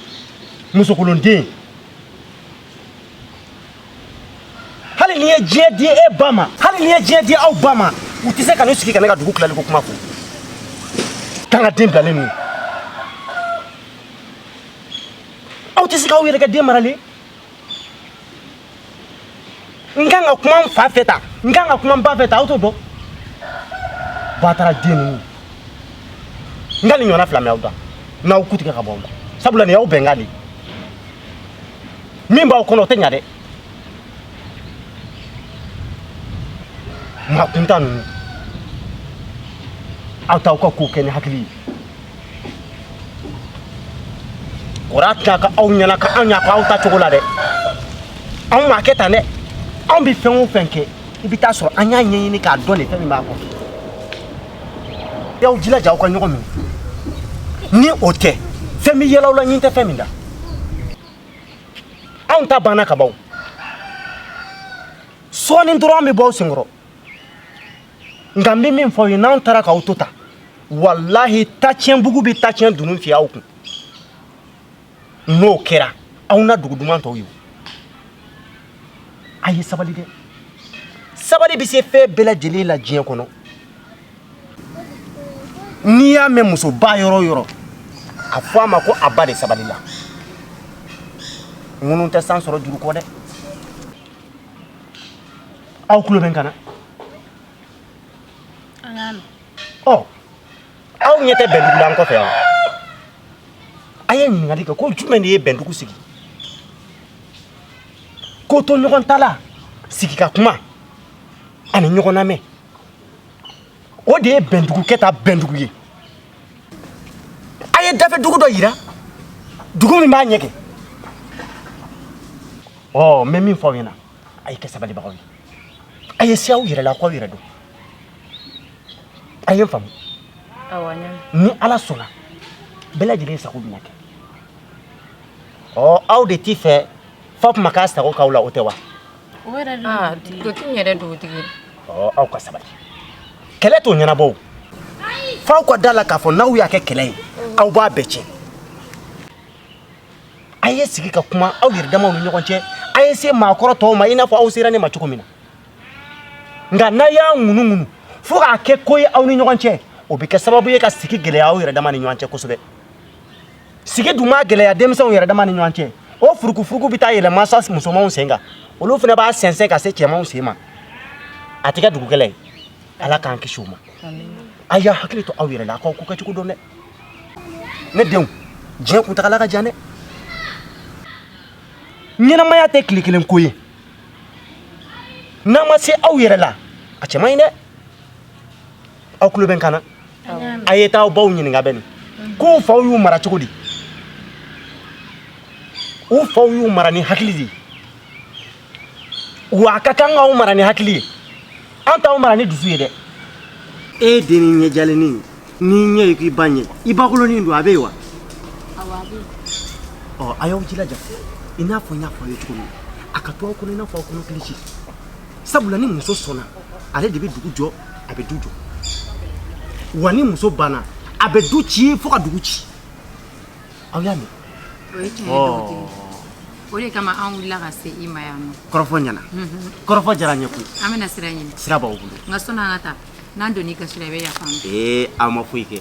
S4: musokolonden hali n'i ye diɲɛ di e ba ma hali n'i ye diɲɛ di aw ba ma u tɛ se ka ne sigi ka ne ka dugu tilali ko kuma fɔ k'an ka den bilalen ninnu aw tɛ se k'aw yɛrɛ kɛ den maralen n kan ka kuma n fa fɛ tan n kan ka kuma n ba fɛ tan aw t'o dɔn bataraden ninnu n ka nin ɲɔgɔnna fila mɛ aw da n'aw ku tigɛ ka bɔ aw la sabula nin y'aw bɛnkan de ye min b'aw kɔnɔ o tɛ ɲa dɛ maa kuntan ninnu aw t'aw ka ko kɛ ni hakili ye kɔri a tɛna ka aw ɲɛna ka anw y'a fɔ aw ta cogo la dɛ anw m'a kɛ tan dɛ anw bɛ fɛn o fɛn kɛ i bɛ taa sɔrɔ an y'a ɲɛɲini k'a dɔn de fɛn min b'a kɔ a y'aw jilaja aw ka ɲɔgɔn minɛ ni o tɛ fɛn bɛ yɛlɛ aw la ɲin tɛ fɛn min da anw ta banna ka ban sɔɔni dɔrɔn an bɛ bɔ aw senkɔrɔ nka n bɛ min fɔ aw ye n'anw taara k'aw to tan walahi tacɛnbugu bɛ tacɛn dunun fiyɛ aw kun n'o kɛra aw na dugu duman tɔw ye a ye sabali dɛ sabali bɛ se fɛn bɛɛ lajɛlen la diɲɛ kɔnɔ n'i y'a mɛn musoba yɔrɔ o yɔrɔ a fɔ a ma ko a ba de sabalila ŋunu tɛ san sɔrɔ juru kɔ dɛ aw tulo bɛ n kan na ɔ aw ɲɛ tɛ bɛndugu la an kɔfɛ yan a ye ɲininkali kɛ ko jumɛn de ye bɛndugu sigi ko to ɲɔgɔn ta la sigi ka kuma ani ɲɔgɔn lamɛn o de ye bɛndugu kɛta bɛndugu ye a ye dafɛ dugu dɔ yira dugu min b'a ɲɛ kɛ ɔ n bɛ min fɔ aw ɲɛna a ye kɛ sabalibagaw ye a ye se aw yɛrɛ la k'aw yɛrɛ dɔn a ye n faamu ni ala sɔnna bɛɛ lajɛlen sago bɛna kɛ ɔ aw de t'i fɛ fa kuma k'a sago k'aw la o tɛ wa
S6: o yɛrɛ de ah, dugutigi ɔ aw
S4: ka sabali kɛlɛ t'o ɲɛnabɔ f'aw ka da la k'a fɔ n'aw y'a kɛ kɛlɛ ye aw b'a bɛɛ tiɲɛ a ye sigi ka kuma aw yɛrɛ damaw ni ɲɔgɔn cɛ a ye se maakɔrɔ tɔw ma i n'a fɔ aw sera ne ma cogo min na nka n'a y'a ŋunuŋunu fo k'a kɛ ko ye aw ni ɲɔgɔn cɛ o bɛ kɛ sababu ye ka sigi gɛlɛya aw yɛrɛ dama ni ɲɔgɔn cɛ kosɛbɛ sigi dun maa gɛlɛya denmisɛnw yɛrɛ dama ni ɲɔgɔn cɛ o furukufuruku bɛ taa yɛlɛn mansa musomanw sen kan olu fana b'a sɛnsɛn ka se cɛmanw sen ma a tɛ kɛ dugukɛlɛ ye ala k'an kisi o ma a y'a hakili to aw yɛrɛ la a k'aw ko kɛcogo dɔn dɛ ne denw diɲɛ kuntagala ka jan dɛ ɲɛnamaya tɛ tile kelen ko ye n'a ma se aw yɛrɛ la a cɛ man ɲi dɛ aw tulo bɛ n kan na a ye taa aw baw ɲininka bani k'u faw y'u mara cogo di u faw y'u mara ni hakili de ye wa an ka kan k'aw mara ni hakili ye an t'aw mara ni dusu ye dɛ e dennin ɲɛjalennin n'i ɲɛ ye k'i ba ɲɛ i bakolonin don a bɛ yen wa ɔ a y'aw jilaja i n'a fɔ n y'a fɔ aw ye cogo min a ka to aw kɔnɔ i n'a fɔ aw kɔnɔ kilisi sabula ni muso sɔnna ale de bɛ dugu jɔ a bɛ du jɔ wa ni muso banna a bɛ du ci fo ka dugu ci aw y'a mɛn o
S6: ye tiɲɛ ye o de kama an wulila ka se i ma yan ɔ kɔrɔfɔ
S4: ɲɛna kɔrɔfɔ diyara n ye koyi an bɛna sira ɲini sira
S6: b'aw bolo nka sani
S4: an ka taa
S6: n'an donna i gasi la i bɛ yafa an ma ee aw ma foyi kɛ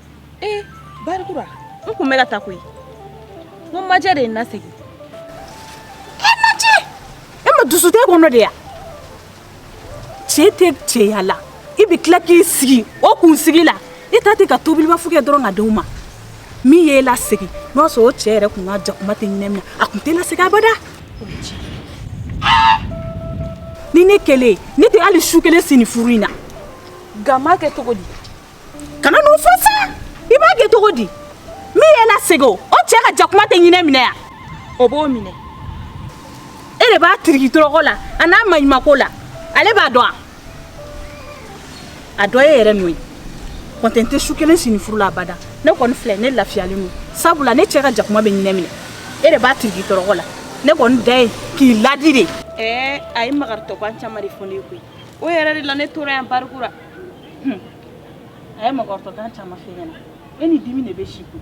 S7: ee barikura n kun bɛ ka taa koyi n ko majɛ de ye n
S2: lasegin e majɛ e ma dusu t'e kɔnɔ de ya cɛ tɛ cɛya la i bɛ tila k'i sigi o kun sigi la i ta tɛ ka tobilibafu kɛ dɔrɔn ka di u ma min y'e lasegin n'o y'a sɔrɔ o cɛ yɛrɛ kun ka jakuma tɛ ɲinɛ minɛ a kun t'e lasegin abada ni ne kɛlen ne tɛ hali su kelen si nin furu in na nka n b'a
S7: kɛ cogo di kana
S2: n'o fɔ sa i b'a kɛ cogo di min y'e lasegin o o cɛ ka jakuma tɛ ɲinɛ minɛ yan o b'o minɛ e de b'a tiriki tɔrɔkɔ la a n'a maɲumako la ale b'a dɔn a a dɔ e yɛrɛ n'o ye kɔntɛ n tɛ su kelen si nin furu la abada ne kɔni filɛ ne lafiyalen don sabula ne cɛ ka jakuma bɛ ɲinɛ minɛ e de b'a tiriki tɔrɔkɔ la ne kɔni ta ye k'i ladi de ɛɛ a ye
S7: magaritɔkan caman de fɔ ne ye koyi o yɛrɛ de la ne tora yan barikura
S2: a ye magaritɔkan caman f'e ɲɛna e ni dimi de bɛ si kun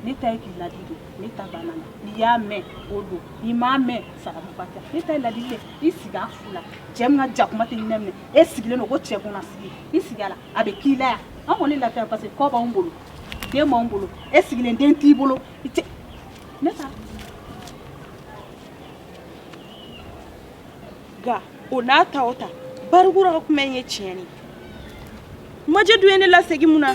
S2: ne ta ye k'i ladi de ne ta banna na n'i y'a mɛn o don n'i m'a mɛn saramuba tɛ ne ta ye ladi de i sigi a fu la cɛ min ka jakuma tɛ ɲinɛ minɛ e sigilen don ko cɛ kunna sigi i sigi a la a bɛ k'i la yan an kɔni lafiya parce que kɔ b'anw bolo den b'anw bolo e sigilen den t'i bolo i tɛ ne ta
S7: nka o n'a ta o ta barikura ka kuma in ye tiɲɛ ye majɛ dun ye ne lasegin mun na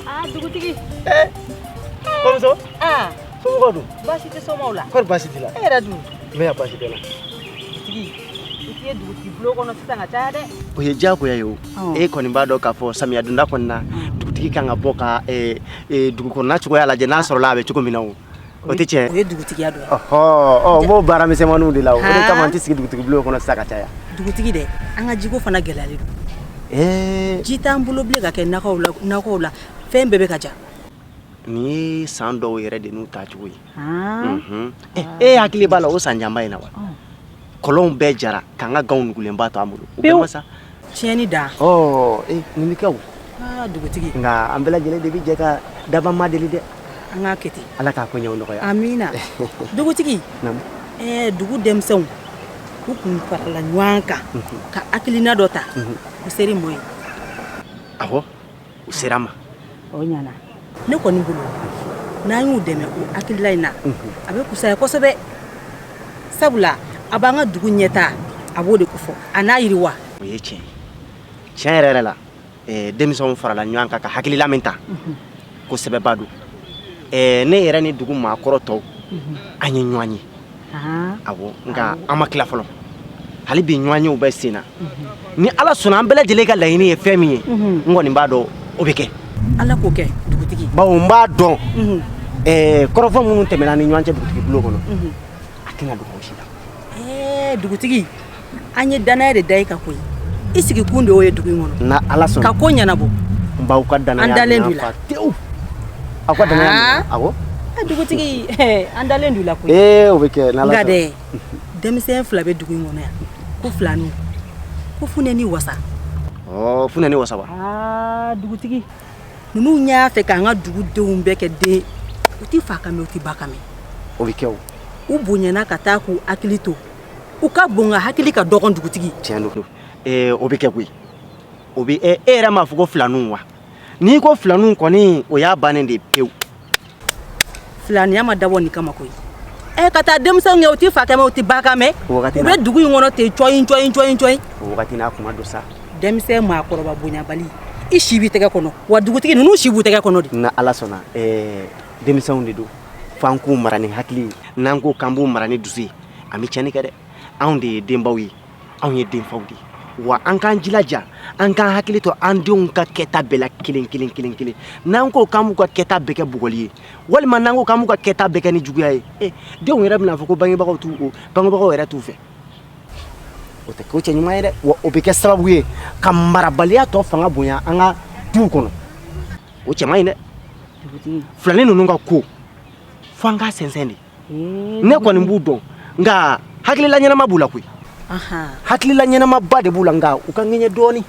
S2: ah dugutigi
S3: eh, kɔmuso ah. somɔgɔw dun baasi tɛ somɔgɔw la
S2: kɔri baasi t'i la e yɛrɛ
S3: dun n bɛ yan
S2: baasi tɛ n na dugutigi i tɛ ye dugutigi bulon kɔnɔ sisan ka caya dɛ o
S4: ye diyagoya ye o e kɔni b'a dɔn k'a fɔ samiya donda kɔni na dugutigi kan ka bɔ ka eh, eh, dugukɔnɔna cogoya lajɛ n'a sɔrɔla a bɛ cogo min na o o tɛ tiɲɛ o ye
S2: dugutigiya dɔ ye n b'o
S4: baara misɛnmaninw de la o kama n tɛ sigi dugutigi bulon kɔnɔ sisan ka caya dugutigi dɛ an
S2: ka jiko fana gɛlɛyalen don ji t'an bolo bilen ka kɛ nakɔw la fɛn bɛɛ bɛ ka ja nin
S4: ye san dɔw yɛrɛ de n'u tacogo ye e hakili b'a la o san janba in na wa kɔlɔnw bɛɛ jara k'an ka ganw nugulenba to an bolo o bɛɛ ma sa tiɲɛni
S2: dan ɔɔ
S4: ee nin bɛ kɛ wa dugutigi nka
S2: an bɛɛ lajɛlen
S4: de bɛ jɛ ka daba ma deli dɛ an k'a kɛ ten
S2: ala k'a koɲɛw
S4: nɔgɔya
S2: amina dugutigi Naamu. ɛɛ dugu denmisɛnw u kun farala ɲɔgɔn kan ka hakilina dɔ ta o ser'i ma wa awɔ
S4: u sera n ma
S2: o ɲana ne kɔni bolo n'an y'u dɛmɛ o hakilila in na a bɛ kusaya kosɛbɛ sabula a b'an ka dugu ɲɛtaa a b'o de kofɔ a n'a yiriwa o ye
S4: tiɲɛ tiɲɛ yɛrɛ yɛrɛ la denmisɛnw farala ɲɔgɔn kan ka hakilila min ta ko sɛbɛba don ne yɛrɛ ni dugu maakɔrɔ tɔw an ye ɲɔgɔn ye awɔ nka an ma tila fɔlɔ hali bi ɲɔgɔnyew bɛ sen na ni ala sɔnna an bɛɛ lajɛlen ka laɲini ye fɛn min ye n kɔni b'a dɔn o bɛ kɛ ala k'o
S2: kɛ dugutigi bawo n b'a
S4: dɔn kɔrɔfɔ minnu tɛmɛna ni ɲɔgɔn cɛ dugutigi bulon kɔnɔ a tɛna dogo si la dugutigi
S2: an ye danaya de da i kan koyi i sigikun de y'o ye dugu in kɔnɔ n'ala sɔnna ka ko ɲɛnabɔ n b'aw ka
S4: danaya an dalen don la tewu aw ka danaya ah. awɔ eh, dugutigi
S2: eh, an dalen don la koyi ee eh, o bɛ kɛ n'ala sɔnna nka
S4: dɛ
S2: denmisɛn fila bɛ dugu in kɔnɔ yan ko filani ko funɛ ni wasa ɔ
S4: funɛ ni wasa wa aa
S2: dugutigi ninnu y'a fɛ k'an ka dugudenw bɛɛ kɛ den u ti fa kan mɛn u ti ba kan mɛn o bɛ kɛ o
S4: u bonyana ka
S2: taa k'u hakili to u ka bon nka hakili ka dɔgɔn dugutigi tiɲɛ
S4: don ee o bɛ kɛ koyi o bɛ e yɛrɛ m'a fɔ ko filaninw wa n'i ko filaninw kɔni o y'a bannen de ye pewu
S2: filaniya ma dabɔ nin kama koyi ɛ ka taa denmisɛnw kɛ u tɛ fa kan mɛn u tɛ ba kan mɛn u bɛ dugu in kɔnɔ ten cɔyin cɔyin cɔyin cɔyin o wagati n'a
S4: kuma don sa denmisɛn
S2: maakɔrɔba bonyabali i si b'i tɛgɛ kɔnɔ wa dugutigi ninnu si b'u tɛgɛ kɔnɔ de n'ala sɔnna
S4: denmisɛnw de don f'an k'u mara ni hakili ye n'an ko k'an b'u mara ni dusu ye an bɛ cɛnni kɛ dɛ anw de ye denbaw ye anw ye denfaw de ye wa an k'an jilaja an k'an hakili to an denw ka kɛta bɛɛ la kelen kelen kelen kelen n'an ko k'an b'u ka kɛta bɛɛ kɛ bugɔli ye walima n'an ko k'an b'u ka kɛta bɛɛ kɛ ni juguya ye e denw yɛrɛ bɛna fɔ ko bangebagaw t'u o bangebagaw yɛrɛ t'u fɛ o tɛ ko cɛ ɲuman ye dɛ wa o bɛ kɛ sababu ye ka marabaliya tɔ fanga bonya an ka duw kɔnɔ o cɛ man ɲi dɛ dugutigi filani ninnu ka ko fo an k'a sɛnsɛn de ne kɔni b'u dɔn nka hakilila ɲɛnama b'u la koyi hakilila ɲɛnamaba de b'u la nka u ka ŋɛɲɛ dɔɔnin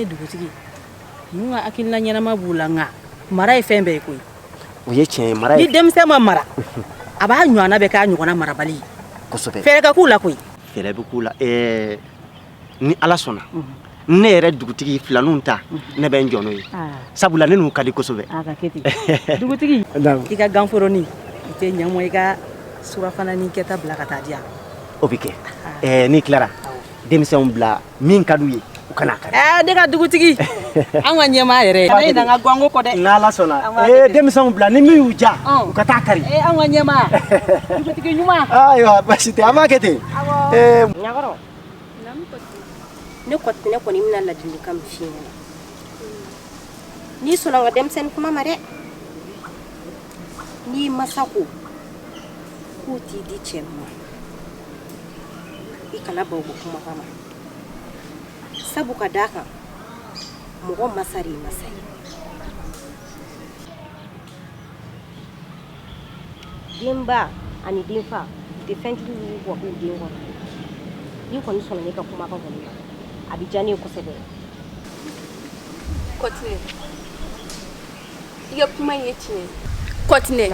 S4: dugutigi
S2: ninnu ka hakilila ɲɛnama b'u la nka mara ye fɛn bɛɛ ye koyi o ye
S4: tiɲɛ
S2: ye mara ni denmisɛn ma mara a b'a ɲɔgɔnna bɛɛ k'a
S4: ɲɔgɔnna
S2: marabali ye kosɛbɛ
S4: fɛɛrɛ ka k'u la koyi
S2: fɛɛrɛ bɛ k'u la
S4: ɛɛ ni ala sɔnna ne yɛrɛ dugutigi filaninw ta ne bɛ n jɔ n'o ye sabula ne n'u ka di
S2: kosɛbɛ dugutigi i ka ganforonin i tɛ ɲamɔ i ka surafana ni kɛta bila ka taa di yan o bɛ kɛ
S4: n'i tilara denmisɛnw bila min ka d'u ye u ka n'a kari ɛɛ ne ka
S2: dugutigi an ka ɲɛmaa yɛrɛ kana ɲinɛ an ka ganko kɔ dɛ n'ala sɔnna
S4: ee denmisɛnw bila ni min y'u ja u ka taa kari ee an ka ɲɛmaa
S2: dugutigi ɲuman ayiwa basi tɛ an
S4: b'a kɛ ten ee ɲakɔrɔ
S8: ne kɔtinɛ kɔni bɛna ladilikan min f'i ɲɛna n'i sɔnna n ka denmisɛnnin kuma ma dɛ n'i masaw ko k'u t'i di cɛ ma i kana ban u ka kumakan ma sabu ka d'a kan mɔgɔ masa de ye masa ye denba ani denfa u tɛ fɛn jugu wuli wa k'u den kɔnɔ n'i kɔni sɔnna ne ka kumakan kɔni ma a bɛ diya ne ye kosɛbɛ
S10: kɔtinɛ i ka kuma in ye tiɲɛ ye kɔtinɛ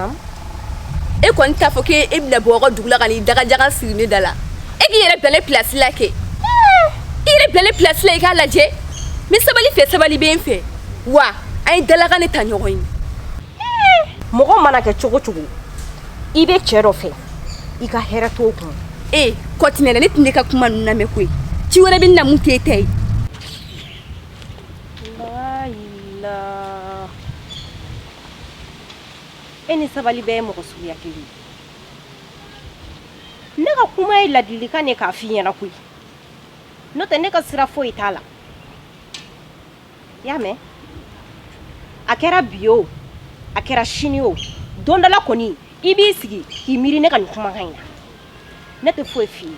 S10: e kɔni t'a fɔ k'e e bɛna bɔ aw ka dugu la ka n'i dagajagan siri ne da la e k'i yɛrɛ bila ne pilasi la kɛ i yɛrɛ bila ne pilasi la i k'a lajɛ n bɛ sabali fɛ sabali bɛ n fɛ wa an ye dalakan de ta ɲɔgɔn ye
S8: mɔgɔ mana kɛ cogo o cogo i bɛ cɛ dɔ fɛ i ka hɛrɛ t'o kun ee kɔtinɛ
S10: ne tɛn'e ka kuma ninnu lamɛn koyi ci wɛrɛ bɛ n na min t'e ta ye
S8: e ni sabali bɛɛ ye mɔgɔ suguya kelen ne ka kuma ye ladilikan de k'a f'i ɲɛna koyi n'o tɛ ne ka sira foyi t'a la i y'a mɛn a kɛra bi o a kɛra sini o don dɔ la kɔni i b'i sigi k'i miiri ne ka nin kumakan in na ne tɛ foyi f'i ye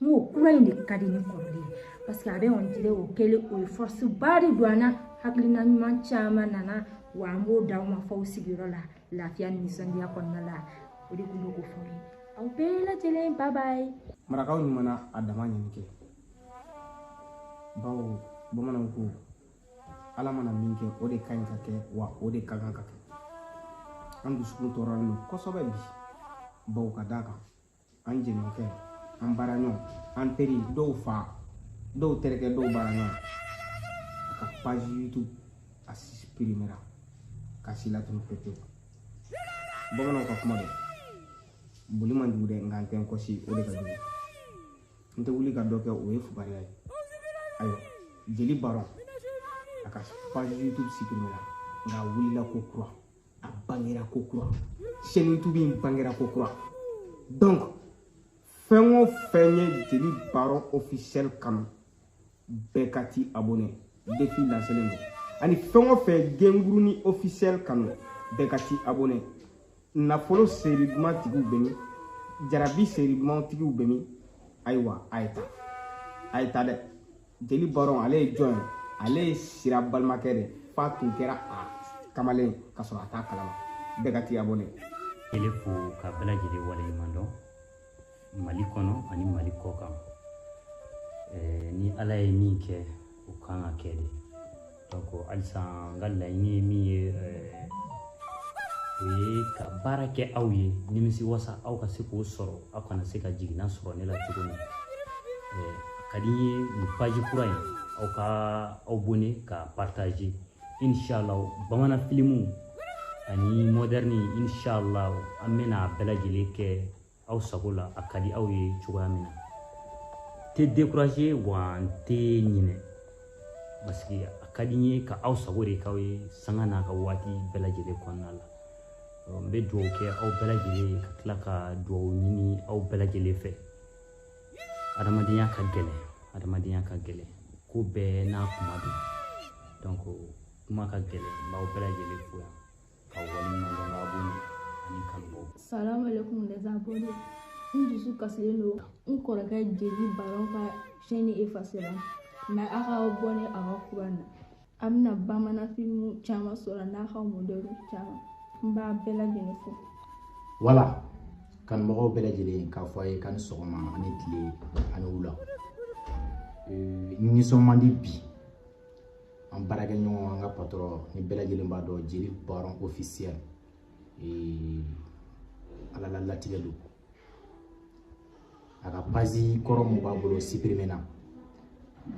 S11: n ko kura in de ka di ni kɔrɔlen ye parce que a bɛ on dirait o kɛlen o ye force ba de don an na hakilina ɲuman caman nana wa an b'o d'aw ma f'aw sigiyɔrɔ la lafiya ni nisɔndiya kɔnɔna la o de tun bɛ k'o f'aw ye aw bɛɛ lajɛlen bye bye marakaw ɲuman
S12: na a dama ɲini kɛ bawo bamananw ko ala mana min kɛ o de ka ɲi ka kɛ wa o de ka kan ka kɛ an dusukun tɔɔrɔlen don kosɛbɛ bi bawo ka d'a kan an jɛɲɔgɔnkɛ an baaraɲɔgɔn an teri dɔw fa dɔw terikɛ dɔw baaraɲɔgɔn a ka page youtube a suprimera k'a si latunu pewu pewu bamananw ka kuma don boli man jugu dɛ nka n tɛ n kɔsi o de ka jugu n tɛ wuli ka dɔ kɛ o ye fugariya ye ayiwa jeli baron a ka page youtube suprimera nka a wulila ko kura a bangera ko kura chaîne youtube in bangera ko kura donc fɛn o fɛn ye jeli baron officiel kanu bɛɛ ka t'i abonné défi lancelen don ani fɛn o fɛn gengurunin officiel kanu bɛɛ ka t'i abonné nafolo seri duman tigiw bɛ min jarabi seri duman tigiw bɛ min ayiwa a ye ta a ye ta dɛ jeli baron ale ye jɔn ye ale ye sira balimakɛ de f'a tun kɛra a kamalen ka sɔrɔ a t'a kalama bɛɛ ka t'i abonné ele fo
S13: ka bɛɛ lajɛlen waleɲuman dɔn mali kɔnɔ ani mali kɔkan ni ala ye min kɛ o kan ka kɛ de donc halisa n ka laɲini ye min ye eh, o ye ka baara kɛ aw ye nimisi wasa aw ka se k'o sɔrɔ aw kana se ka jiginna sɔrɔ ne la cogo min eh, a ka di n ye nin paji kura in aw ka abonné ka partager inshallah bamanan filimu ani modɛrni inshallah an bɛna a bɛɛ lajɛlen kɛ aw sago la a ka di aw ye cogoya min na n tɛ décourager wa n tɛ ɲinɛ parce que a ka di n ye ka aw sago de k'aw ye sanga n'a ka waati bɛɛ lajɛlen kɔnɔna la n bɛ dugawu kɛ aw bɛɛ lajɛlen ye ka tila ka dugawu ɲini aw bɛɛ lajɛlen fɛ adamadenya ka gɛlɛn adamadenya ka gɛlɛn ko bɛɛ n'a kuma don donc kuma ka gɛlɛn n b'aw bɛɛ lajɛlen fo yan ka waleɲumandɔn ka bɔ ani
S14: kanubɔ salamu alaikum les abonnés n dusu kasilen don n kɔrɔkɛ jeli baron ka chaîne efasera mais a ka abonné a ka kura in na a bɛna bamanan filimu caman sɔrɔ n'a ka modɛrni caman n b'a bɛɛ lajɛlen fo
S12: voilà kanubagaw bɛɛ lajɛlen k'a fɔ a ye k'a ni sɔgɔma ani tile ani wula nisɔn man di bi an baarakɛɲɔgɔn an ka patɔrɔn ni bɛɛ lajɛlen b'a dɔn jeli baron ofisiyɛl ala la latigɛ don a ka pazi kɔrɔ min b'a bolo sipirimena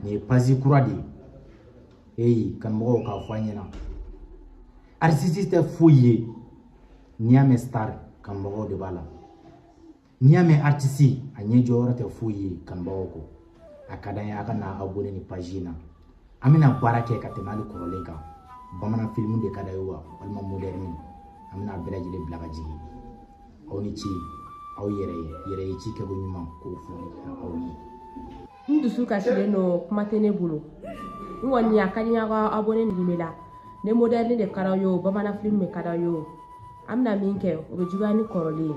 S12: nin ye pazi kura de ye eyi kanumɔgɔw k'a fɔ an ɲɛna artiste tɛ foyi ye n'i y'a mɛn star kanumɔgɔw de b'a la n'i y'a mɛn artiste a ɲɛ jɔyɔrɔ tɛ foyi ye kanubagaw kɔ a ka d'an ye a ka na abonné nin page in na an bɛna baara kɛ ka tɛmɛ hali kɔrɔlen kan bamanan filimu de ka d'a ye wa walima modɛrni an bɛna bɛɛ lajɛlen bila ka jigin aw ni ce aw yɛrɛ yɛrɛ ye ci kɛko ɲuman k'o fɔ aw ye n dusu
S8: kasilen don kuma tɛ ne bolo n kɔni a ka di n y'aw ka abonné nin bɛ la ni modɛrni de ka d'aw ye o bamanan filimu de ka d'aw ye o an bɛna min kɛ o bɛ juguya ni kɔrɔlen ye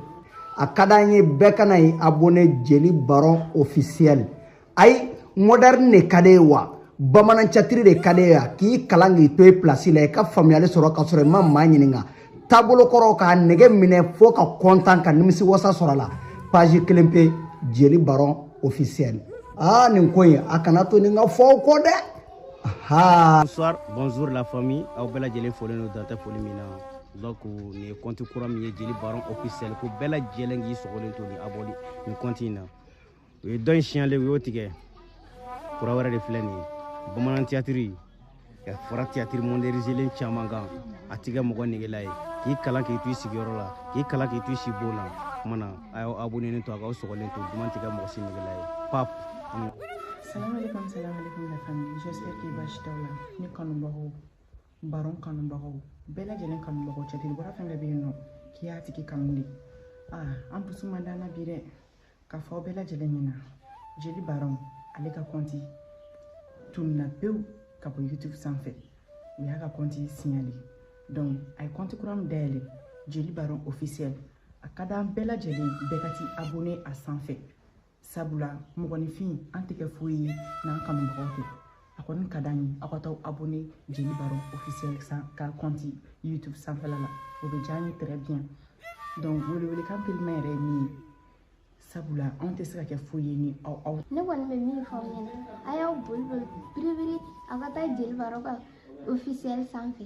S8: a ka d'an
S15: ye bɛɛ ka na i abonné jeli baron officiel ayi modɛrni de ka d'e ye wa bamanan catiri de ka d'e ye wa k'i kalan k'i to i pilasi la i ka faamuyali sɔrɔ ka sɔrɔ i ma maa ɲininka taabolo kɔrɔ k'a nege minɛ fo ka kɔntan ka nimisi wasa sɔrɔ a la page kelen pe jeli baron officiel aa nin ko in a kana to nin ka fɔ aw kɔ dɛ bonsoir
S12: bonjour la famille aw bɛɛ lajɛlen folen don dan tɛ foli min na donc nin ye kɔnti kura min ye jeli baron officiel ko bɛɛ lajɛlen k'i sɔgɔlen to ni abonné nin kɔnti in na u ye dɔ in signalé u y'o tigɛ kura wɛrɛ de filɛ nin ye bamanan tiyatiri ka fara tiyatiri modɛrinizelen caman kan a tɛ kɛ mɔgɔ negela ye k'i kalan k'i to i sigiyɔrɔ la k'i kalan k'i to i sibon na kuma na a y'aw abonenen to a k'aw sɔgɔlen to duman tɛ kɛ mɔgɔ si negela ye
S16: pap Salam alaikum, salam alaikum la famille. J'espère que basi t'aw la. Ne kanubagaw, baron kanubagaw, bɛɛ lajɛlen kanubagaw tiyatiribɔla fɛn bɛɛ bɛ yen nɔ k'i y'a tigi kanu de. Ah, an dusu man d'an na bi dɛ. k'a fɔ aw bɛɛ lajɛlen ɲɛna jeli baron ale ka kɔnti tununna pewu ka bɔ youtube sanfɛ u y'a ka kɔnti signalé donc a ye kɔnti kura min dayɛlɛ jeli baron officiel a ka d'an bɛɛ lajɛlen bɛɛ ka t'i abonné a sanfɛ sabula mɔgɔninfin an tɛ kɛ foyi ye n'an kanubagaw tɛ a kɔni ka d'an ye aw ka taa abonné jeli baron officiel ka kɔnti youtube sanfɛla la o bɛ diya an ye très bien donc welewelekan teliman yɛrɛ ye nin ye sabula anw tɛ se ka kɛ foyi ye ni aw aw ne kɔni bɛ min fɔ
S17: aw ɲɛna a y'aw boli boli biribiri aw ka taa jeli baron ka officiel sanfɛ